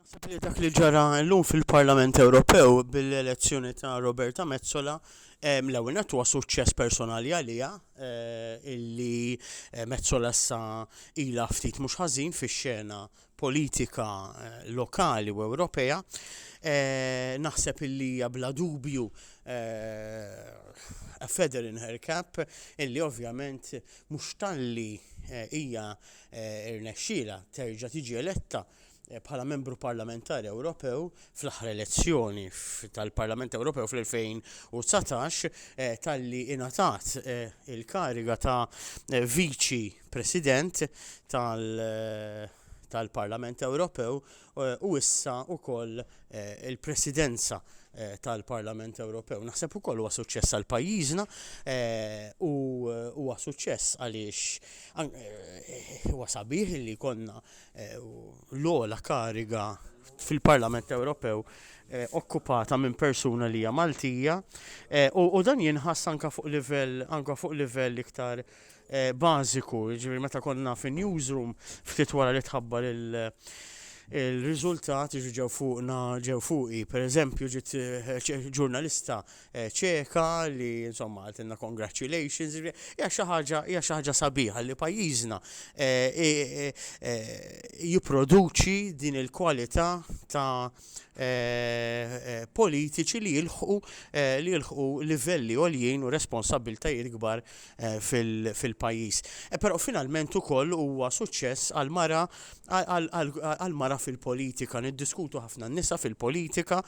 Naħseb li dak li ġara llum fil-Parlament Ewropew bil-elezzjoni ta' Roberta Mezzola l-ewwel nett huwa suċċess personali għaliha eh, illi eh, Mezzola sa ilha ftit mhux ħażin fix-xena politika lokali u Ewropea, naħseb illi hija bla dubju a feather in her cap illi ovvjament mhux talli hija rnexxielha terġa' tiġi eletta bħala Membru Parlamentari Ewropew fl-aħħar elezzjoni tal-Parlament Ewropew fl-2019 talli ingħatat il-kariga ta' Viċi President tal tal-Parlament Ewropew eh, u issa wkoll eh, il-Presidenza eh, tal-Parlament Ewropew. Naħseb ukoll huwa suċċess għal pajjiżna u huwa suċċess għaliex huwa sabiħ li konna l-ola kariga fil-Parlament Ewropew eh, okkupata minn persuna li hija Maltija eh, u dan jinħass anka fuq livell anka fuq livell iktar bażiku, jiġifieri meta konna fin-newsroom ftit wara li tħabbar il-riżultat jiġu ġew fuqna ġew fuqi. Pereżempju ġiet ġurnalista Ċeka li insomma għaltilna congratulations, hija xi ħaġa hija xi ħaġa sabiħa li pajjiżna jipproduċi din il-kwalità ta' politiċi li jilħqu li jilħqu livelli għoljin u responsabbiltajiet kbar fil-pajjiż. Però finalment ukoll huwa suċċess għal mara għal mara fil-politika, niddiskutu ħafna n-nisa fil-politika,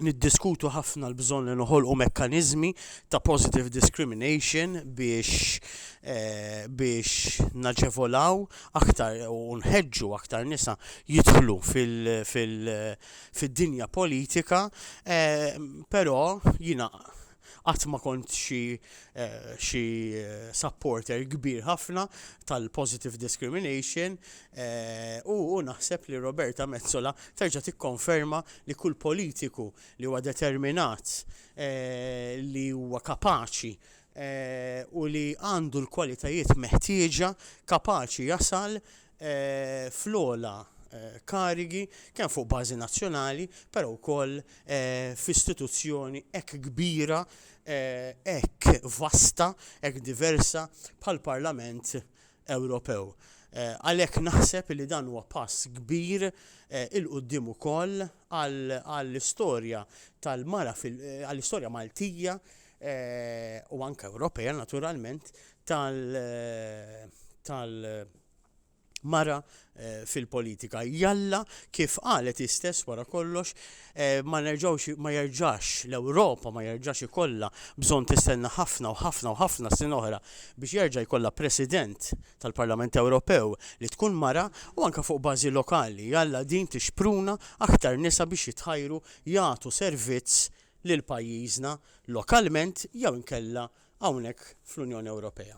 niddiskutu ħafna l-bżonn li noħolqu mekkaniżmi ta' positive discrimination biex eh, biex naġevolaw aktar u nħeġġu aktar nisa jidħlu fil-dinja politika, eh, però jina Qatt ma kont xi xi supporter kbir ħafna tal-positive discrimination u u naħseb li Roberta Metsola terġa' tikkonferma li kull politiku li huwa determinat li huwa kapaċi u li għandu l-kwalitajiet meħtieġa kapaċi jasal fl-ogħla karigi kemm fuq bażi nazzjonali, però wkoll f'istituzzjoni hekk kbira, hekk vasta, hekk diversa bħall-Parlament Ewropew. Għalhekk naħseb li dan huwa pass kbir 'il quddiem ukoll għall-istorja tal-mara fil-, għall-istorja Maltija u anke Ewropea naturalment tal-, tal-, mara eh, fil-politika. Jalla kif qalet istess wara kollox eh, ma nerġawx ma jerġax l-Ewropa ma jerġax ikollha bżonn tistenna ħafna u ħafna u ħafna sin oħra biex jerġa' jkollha President tal-Parlament Ewropew li tkun mara u anke fuq bażi lokali. Jalla din tixpruna aktar nisa biex jitħajru jagħtu servizz lil pajjiżna lokalment jew inkella hawnhekk fl-Unjoni Ewropea.